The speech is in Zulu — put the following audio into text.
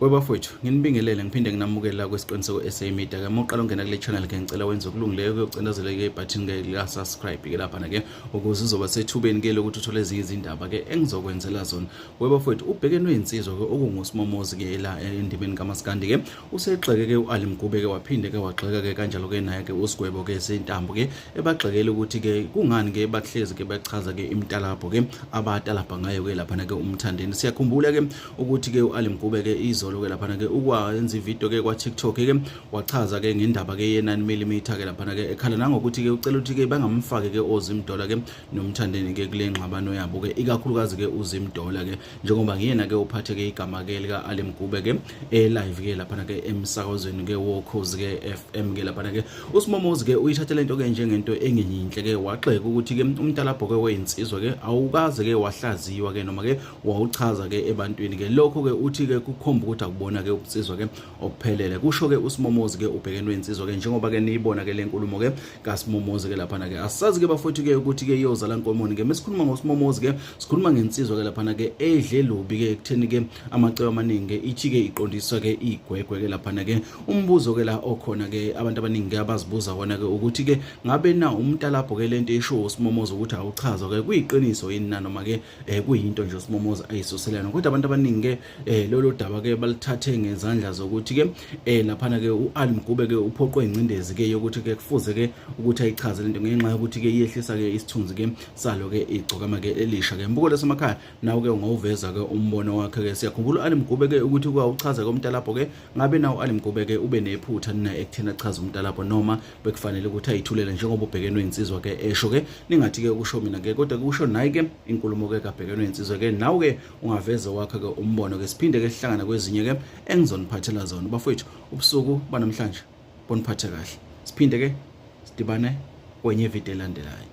Webafowethu, nginibingelele ngiphinde nginamukele la kwesiqiniseko SA Media. Ke moqala ungena kule channel ke ngicela wenze okulungileyo kuyocindezela ke ibutton ke la subscribe ke lapha na ke ukuze uzoba sethubeni ke lokuthi uthole ezinye izindaba ke engizokwenzela zona. Webafowethu, ubhekene insizwa ke okungusimomozi ke la endimeni kaMaskandi ke usegxeke ke u-ali mgube ke waphinde ke wagxeka ke kanjalo ke naye ke usigwebo ke zintambo ke ebagxekele ukuthi ke kungani ke bahlezi ke bachaza ke imitalabho ke abatalabha ngayo ke laphana ke umthandeni siyakhumbula ke ukuthi ke u-ali mgube ke izolo ke laphana ke ukwenza ividiyo ke kwa-tiktok ke wachaza ke ngendaba ke ye-9 mm ke laphana ke ekhala nangokuthi ke ucela ukuthi ke bangamfaki ke ozimdola ke nomthandeni ke kule ngxabano yabo ke ikakhulukazi ke uzimdola ke njengoba ngiyena ke uphatheke igama ke lika Ali Mgube ke e live ke lapha ke emsakazweni ke wokhozi ke FM ke lapha ke uSimomozi ke uyithathele into ke njengento engeyinhle ke waxeka ukuthi ke umntalabho ke weyinsizwa ke awukaze ke wahlaziwa ke noma ke wawuchaza ke ebantwini ke lokho ke uthi ke kukhomba ukuthi akubona ke ubunsizwa ke okuphelele kusho ke usimomozi ke ubhekenwe insizwa ke njengoba ke niyibona ke lenkulumo ke kasimomozi ke lapha ke asazi ke bafowethu ke ukuthi ke iyozala nkomoni ke mesikhuluma ngosimomozi ke sikhuluma ngensizwa ke lapha ke edle lobi ke ekutheni ke amacebo amaningi ithi ke iqondiswa ke igwegwe ke lapha ke umbuzo ke la okhona ke abantu abaningi ke abazibuza wona ke ukuthi ke ngabe na umntalapho ke lento esho usimomozi ukuthi awuchaza ke kuyiqiniso yini na noma ke eh kuyinto nje uSimomoza ayisuselana kodwa abantu abaningi ke eh lolu daba ke balithathe ngezandla zokuthi ke eh laphana ke uAli Mgube ke uphoqwe ingcindezi ke yokuthi ke kufuze ke ukuthi ayichaze lento ngenxa yokuthi ke iyehlisa ke isithunzi ke salo ke igcokama ke elisha ke mbuko lesemakhaya nawo ke ungawuveza ke umbono wakhe ke siyakhumbula uAli Mgube ke ukuthi kwawuchaza komntalapho ke ngabe nawo uAli Mgube ke ube nephutha nina ekuthena chaza umntalapho noma bekufanele ukuthi ayithulele njengoba ubhekenwe insizwa ke esho ke ningathi ke ukusho mina ke kodwa kusho naye ke inkulumo ke kabhekenwe insizwa ke nawe ke ungaveza wakhe ke umbono ke siphinde ke sihlangana kwezinye ke engizoniphathela zona bafowethu ubusuku banamhlanje boniphathe kahle siphinde ke sidibane kwenye video elandelayo